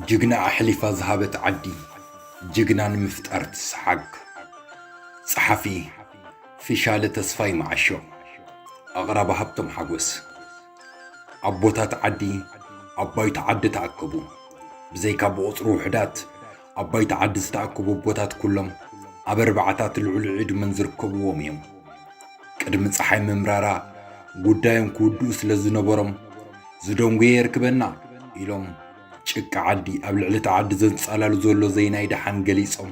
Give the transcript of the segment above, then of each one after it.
ጅግና ኣሕሊፋ ዝሃበት ዓዲ ጅግና ንምፍጣር ትስሓግ! ጸሓፊ፣ ፊሻለ ተስፋይ መዓሾ፣ ኣቕራቢ፣ ሃብቶም ሓጎስ። ኣቦታት ዓዲ ኣብ ባይቶ ዓዲ ተኣከቡ። ብዘይካ ብቑጽሪ ውሑዳት ኣብ ባይቶ ዓዲ ዝተኣከቡ ኣቦታት ኩሎም ኣብ ኣርባዓታት ልዑል ዕድመን ዝርከብዎም እዮም። ቅድሚ ፀሓይ ምምራራ ጉዳዮም ክውድኡ ስለ ዝነበሮም ዝደንጎየ የርክበና ኢሎም ጭቃ ዓዲ ኣብ ልዕሊ እቲ ዓዲ ዘንጻላሉ ዘሎ ዘይናይ ደሓን ገሊጾም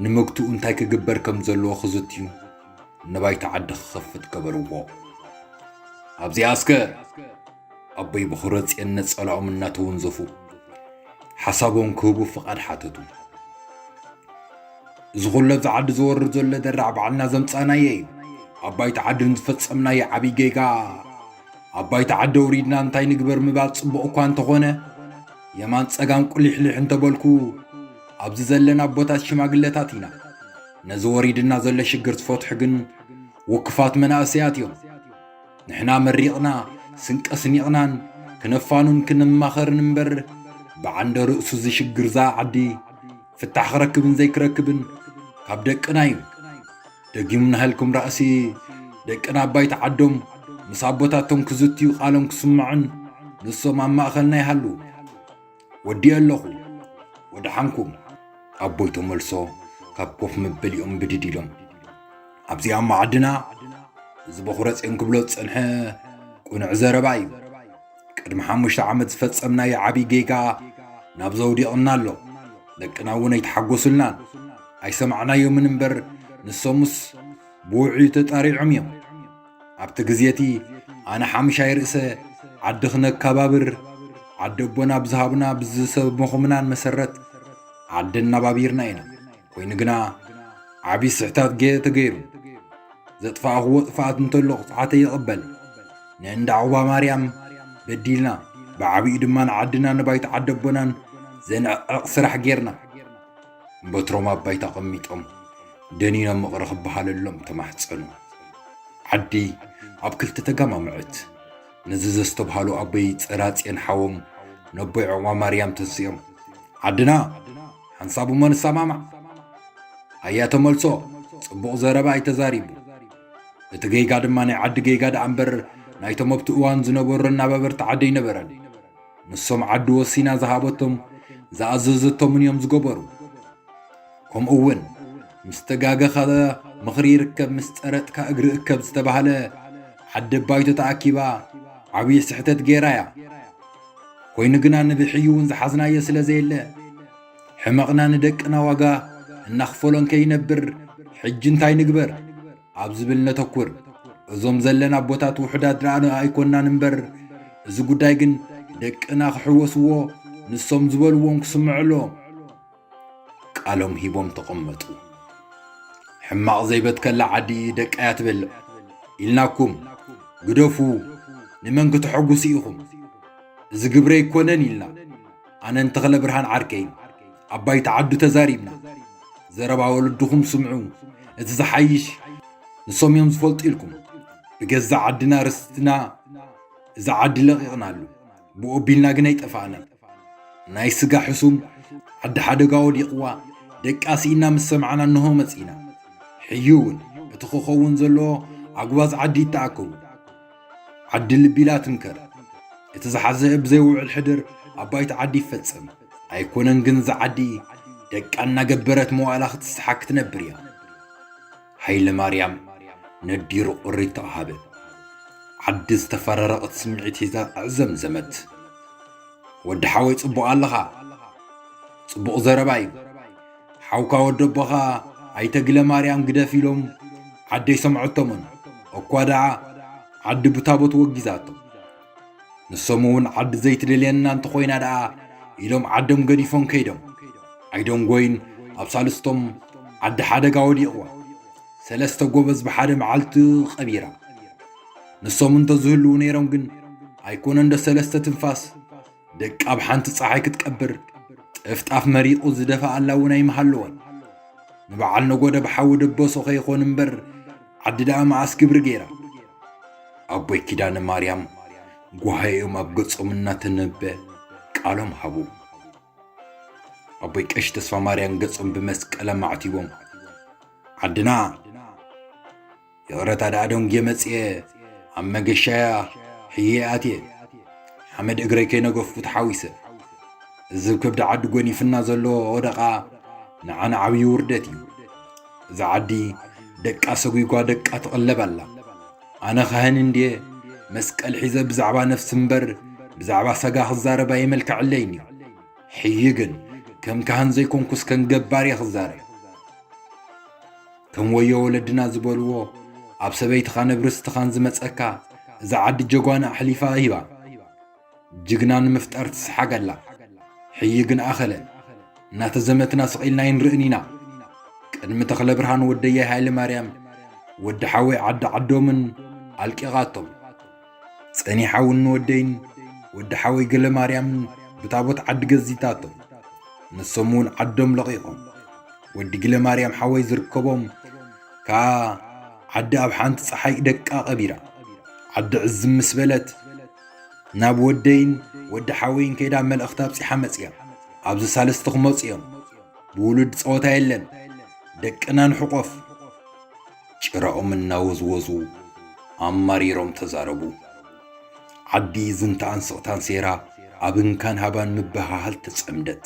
ንምግትኡ እንታይ ክግበር ከም ዘለዎ ክዝትዩ ንባይታ ዓዲ ክኸፍት ገበርዎ። ኣብዚኣ እስከ ኣቦይ ብኹረጽየን ነጸላኦም እናተወንዘፉ ሓሳቦም ክህቡ ፍቓድ ሓተቱ። እዚ ኩሉ ኣብዚ ዓዲ ዝወርድ ዘሎ ደራዕ ባዕልና ዘምጻእናዮ እዩ። ኣብ ባይታ ዓዲ ንዝፈጸምናዮ ዓብዪ ጌጋ ኣብ ባይታ ዓዲ ኣውሪድና እንታይ ንግበር ምባል ጽቡቕ እኳ እንተኾነ የማን ጸጋም ቁሊሕሊሕ እንተበልኩ ኣብዚ ዘለና ኣቦታት ሽማግለታት ኢና ነዚ ወሪድና ዘሎ ሽግር ዝፈትሑ ግን ውክፋት መናእሰያት እዮም ንሕና መሪቕና ስንቀ ስኒቕናን ክነፋኑን ክንማኸርን እምበር ብዓንደ ርእሱ እዚ ሽግር እዛ ዓዲ ፍታሕ ክረክብን ዘይክረክብን ካብ ደቅና እዩ ደጊም ናህልኩም ራእሲ ደቅና ኣባይቲ ዓዶም ምስ ኣቦታቶም ክዝትዩ ቃሎም ክስምዑን ንሶም ኣብ ማእኸልና ይሃልዉ ወዲኤ ኣለኹ ወደሓንኩም። ኣቦይ ተመልሶ ካብ ኮፍ መበሊኦም ብድድ ኢሎም ኣብዚኣ ማዕድና እዚ በኹረጼን ክብሎ ዝጸንሐ ቁኑዕ ዘረባ እዩ ቅድሚ ሓሙሽተ ዓመት ዝፈጸምናዮ ዓብዪ ጌጋ ናብ ዘውዲቕና ኣሎ ደቅና እውን ኣይተሓጎሱልናን ኣይሰማዕናዮምን እምበር ንሶምስ ብውዕዩ ተጣሪዖም እዮም ኣብቲ ግዜ እቲ ኣነ ሓምሻይ ርእሰ ዓዲ ክነካባብር ዓዲ ኣቦና ኣብ ዝሃቡና ብዝሰብምኹምናን መሰረት ዓዲ እናባቢርና ኢና። ኮይኑ ግና ዓብዪ ስሕታት ገ ተገይሩ ዘጥፋእኽዎ ጥፍኣት እንተሎ ቅፅዓተይ ይቕበል ንእንዳ ዑባ ማርያም በዲልና ብዓብኡ ድማ ንዓድና ንባይቶ ዓዲ ኣቦናን ዘንዕቕዕቕ ስራሕ ጌርና። በትሮም ኣብ ባይታ ኣቐሚጦም ደኒኖም ምቕሪ ክበሃለሎም ተማሕጸኑ። ዓዲ ኣብ ክልተ ተጋማምዐት። ነዚ ዘስተብሃሉ ኣቦይ ጸራጽዮን ሓዎም ነቦይ ዑቕባ ማርያም ተንሲኦም ዓድና ሓንሳብ እሞ ንሰማማዕ ኣያ ተመልሶ ጽቡቕ ዘረባ ኣይ ተዛሪቡ እቲ ጌጋ ድማ ናይ ዓዲ ጌጋ ደኣ እምበር ናይቶም ኣብቲ እዋን ዝነበሩ ኣናባበርቲ ዓደይ ነበረን ንሶም ዓዲ ወሲና ዝሃበቶም ዝኣዘዘቶምን እዮም ዝገበሩ። ከምኡ እውን ምስ ተጋገኻ ምኽሪ ይርከብ ምስ ጸረጥካ እግሪ እከብ ዝተባህለ ዓዲ ባይቶ ተኣኪባ ዓብዪ ስሕተት ገይራ እያ። ኮይኑ ግና ንብሕዩ እውን ዝሓዝናዮ ስለ ዘየለ ሕመቕና ንደቅና ዋጋ እናኽፈሎን ከይነብር ሕጂ እንታይ ንግበር? ኣብ ዝብል ነተኩር። እዞም ዘለና ኣቦታት ውሑዳት ረኣነ ኣይኮናን እምበር እዚ ጉዳይ ግን ደቅና ክሕወስዎ ንሶም ዝበልዎም ክስምዕሎ ቃሎም ሂቦም ተቐመጡ። ሕማቕ ዘይበትከላ ዓዲ ደቃያ ትበልዕ ኢልናኩም ግደፉ ንመን ክተሐጉሱ ኢኹም እዚ ግብሪ ኣይኮነን ኢልና ኣነን ተኽለ ብርሃን ዓርከይን ኣብ ባይታ ዓዱ ተዛሪብና ዘረባ ወለድኹም ስምዑ እቲ ዝሓይሽ ንሶም እዮም ዝፈልጡ ኢልኩም ብገዛእ ዓድና ርስትና እዚ ዓዲ ለቒቕናሉ ብኡ ቢልና ግን ኣይጠፋእናን ናይ ስጋ ሕሱም ዓዲ ሓደጋ ወዲቕዋ ደቃ ስኢና ምስ ሰማዕና እንሆ መጺና ሕዩ እውን እቲ ክኸውን ዘለዎ ኣጉባዝ ዓዲ ይተኣከቡ ዓዲ ልቢላ ትምከር እቲ ዝሓዘ ብዘይ ውዕል ሕድር ኣብ ባይታ ዓዲ ይፈጸም ኣይኮነን ግን እዛ ዓዲ ደቃ እናገበረት መዋእላ ክትስሓ ክትነብር እያ ሃይለ ማርያም ነዲሩ ቁሪት ተዋሃበ ዓዲ ዝተፈራረቐት ስምዒት ሒዛ ኣዕዘምዘመት ወዲ ሓወይ ጽቡቕ ኣለኻ ጽቡቕ ዘረባ እዩ ሓውካ ወደቦ ኸኣ ኣይተ ግለማርያም ግደፍ ኢሎም ዓዲ ኣይሰምዐቶምን። እኳ ደኣ ዓዲ ብታቦት ወጊዛቶ። ንሶም እውን ዓዲ ዘይትደልየና እንተኾይና ደኣ ኢሎም ዓዶም ገዲፎም ከይዶም። ኣይደንጎይን ኣብ ሳልስቶም ዓዲ ሓደጋ ወዲቕዋ ሰለስተ ጎበዝ ብሓደ መዓልቲ ቐቢራ። ንሶም እንተዝህልዉ ነይሮም ግን ኣይኮነንዶ ሰለስተ ትንፋስ ደቂ ኣብ ሓንቲ ፀሓይ ክትቀብር ጥፍጣፍ መሪቑ ዝደፍኣላ እውን ኣይምሃለወን ንበዓል ነጎደ ብሓዊ ደበሶ ከይኾን እምበር ዓዲ ደኣ መዓስ ግብሪ ገይራ ኣቦይ ኪዳነ ማርያም ጓሃዮም ኣብ ገጾም እናተነበ ቃሎም ሃቡ ኣቦይ ቀሽ ተስፋ ማርያም ገጾም ብመስቀል ኣማዕቲቦም ዓድና ይቕረታ ደኣ ደንጉየ መጺኤ ኣብ መገሻያ ሕየ ኣትየ ሓመድ እግረይ ከይነገፍኩ ተሓዊሰ እዝብ ከብዲ ዓዲ ጎኒፍና ዘሎ ወደቓ ንዓና ዓብዪ ውርደት እዩ እዛ ዓዲ ደቃ ሰጒጓ ደቃ ትቕለብ ኣላ ኣነ ኻህን እንድየ መስቀል ሒዘ ብዛዕባ ነፍሲ እምበር ብዛዕባ ሰጋ ክዛረብ ኣይመልክዐለይን እዩ ሕይ ግን ከም ካህን ዘይኮንኩስ ከም ገባር እየ ክዛረብ ከም ወዮ ወለድና ዝበልዎ ኣብ ሰበይትኻ ነብርስትኻን ዝመጸካ እዛ ዓዲ ጀጓና ኣሕሊፋ ሂባ ጅግና ንምፍጣር ትስሓገላ ሕይ ግን ኣኸለ እናተዘመትና ስቒልና ይንርእን ኢና ቅድሚ ተኽለ ብርሃን ወደያይ ሃይለ ማርያም ወዲ ሓወይ ዓዲ ዓዶምን ኣልቂቓቶም ጸኒሓውን ንወደይን ወዲ ሓወይ ገለማርያምን ብታቦት ዓዲ ገዚታቶም ንሶም እውን ዓዶም ለቒቖም ወዲ ጊለማርያም ሓወይ ዝርከቦም ከዓ ዓዲ ኣብ ሓንቲ ፀሓይ ደቃ ቀቢራ ዓዲ ዕዝም ምስ በለት ናብ ወደይን ወዲ ሓወይን ከይዳ መልእኽቲ ኣብፂሓ መፅያ ኣብዚ ሳልስቲ ክመፁ እዮም ብውሉድ ፀወታ የለን ደቅና ንሕቆፍ ጭራኦም እናወዝወዙ ኣማሪሮም ተዛረቡ። ዓዲ ዝንታኣን ስቕታን ሴራ ኣብ እንካን ሃባን ምብህሃል ተጸምደት።